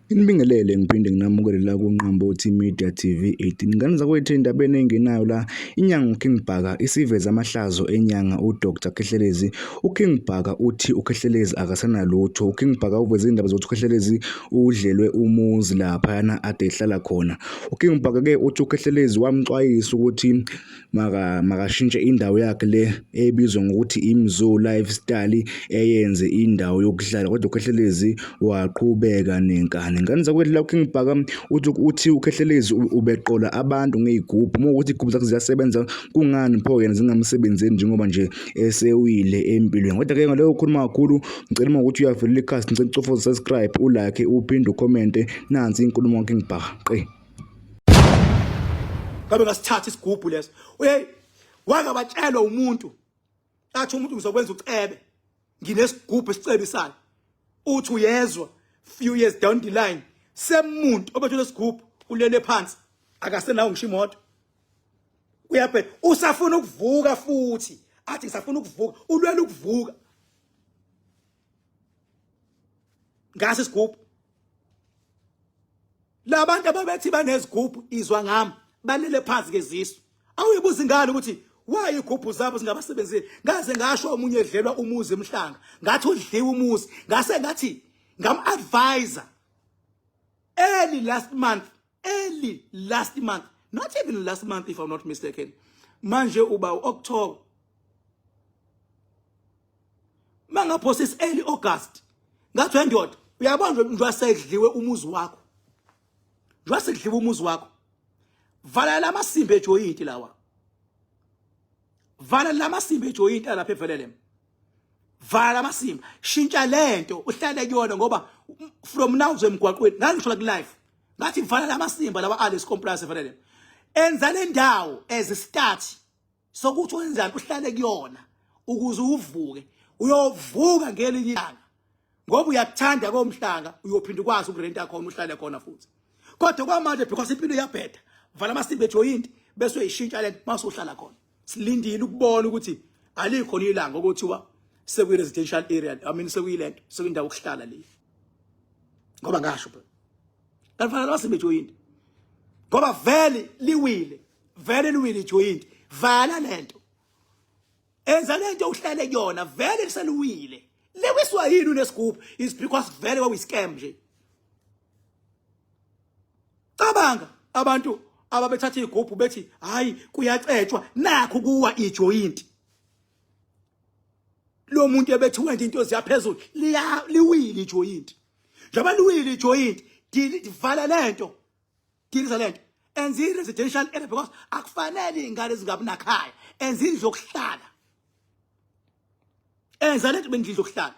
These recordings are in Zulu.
Nginibingelele ngiphinde nginamukele la kuNqambothi Media TV 18. Ngane zakwethu endabeni engenayo la inyanga uKing Bhaka isiveza amahlazo enyanga uDr Khehlelezi. UKing Bhaka uthi uKhehlelezi akasenalutho. UKing Bhaka uveze indaba zokuthi uKhehlelezi udlelwe umuzi lapha yana ade ehlala khona. UKing Bhaka ke uthi uKhehlelezi wamxwayisa ukuthi maka makashintshe indawo yakhe le ebizwa ngokuthi iMzoo Lifestyle eyenze indawo yokuhlala kodwa uKhehlelezi waqhubeka nenkani ngane zakwedlula uKing Bhaka uthi uthi uKhehlelezi ubeqola abantu ngeyigubhu uma ukuthi igubhu zakhe ziyasebenza kungani pho yena zingamsebenzeli njengoba nje esewile empilweni kodwa ke ngaleyo ukhuluma kakhulu ngicela uma ukuthi uyavelela ikhasi ngicela ucofoza subscribe ulike uphinde ucommente nansi inkulumo kaKing Bhaka qe ngabe ngasithatha isigubhu leso hey wangabatshelwa umuntu athi umuntu ngizokwenza ucebe nginesigubhu esicebisayo uthi uyezwa few years down the line semuntu obethule isigubhu ulele phansi akasenawo ngisho imoto uyabhe usafuna ukuvuka futhi athi ngisafuna ukuvuka ulwela ukuvuka ngase isigubhu labantu ababethi banezigubhu izwa ngami balele phansi kezisu awuyibuza ingane ukuthi waye igubhu zabo zingabasebenzeli ngaze ngasho omunye edlelwa umuzi emhlanga ngathi udliwa umuzi ngase ngathi ngam advisor early last month early last month not even last month if i'm not mistaken manje uba uoctober mangaphosis early august ngathi wendoda uyabona nje njengoba sekudliwe umuzi wakho njengoba sekudliwe umuzi wakho valela amasimbe ejoyinti lawa vala lamasimba ejoyinti alapha evelele vala lamasimba shintsha lento uhlale kuyona ngoba from now zemgwaqweni ngangisho la ku life ngathi mfana lamasimba lawa Alice Compliance fanele enza le ndawo as a start sokuthi wenzani uhlale kuyona ukuze uvuke uyovuka ngelinye ilanga ngoba uyakuthanda komhlanga uyophinda ukwazi ukurenta khona uhlale khona futhi kodwa kwamanje because impilo iyabheda vala amasimba ejoyinti bese uyishintsha lento mase uhlala khona silindile ukubona ukuthi alikho nilanga okuthiwa sekuyi residential area i mean sekuyilento sekuyindawo okuhlala le ngoba ngasho phela kanfanele wasimbe joint ngoba vele liwile vele liwile joint vala lento enza lento uhlale kuyona vele liseluwile lewiswa yini unesigubhu is because vele kwakuyi scam nje cabanga abantu ababethatha igubhu bethi hayi kuyacetshwa nakho kuwa ijoint lo muntu ebethi wenda into ziyaphezulu liya liwile ijoint njengoba liwile ijoint divala lento dilisa lento enza i-residential area because akufanele iy'ngane zingabi nakhaya enza indlu yokuhlala enza lento bengidla ukuhlala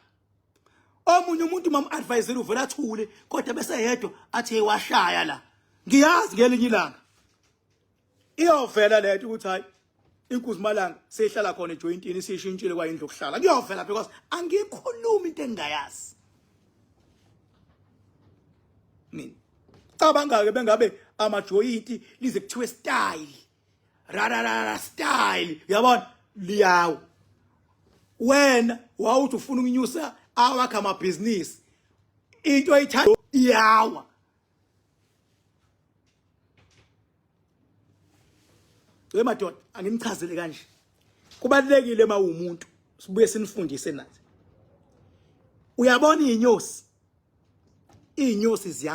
omunye umuntu mam advisor uvela athule kodwa bese yedwa athi washaya la ngiyazi ngelinye ilanga iyovela lento ukuthi hayi inkuzi malanga seyihlala khona ejointini sishintshile kwayindlu okuhlala kuyovela because angikhulumi into engingayazi mina cabanga ke bengabe amajoyinti lize kuthiwe style rararara style uyabona liyawo wena wawuthi ufuna ukunyusa awakhe amabhizinisi into ayithanda iyawa we madoda anginichazele kanje kubalekile uma umuntu sibuye sinifundise nathi uyabona inyosi iy'nyosi ziya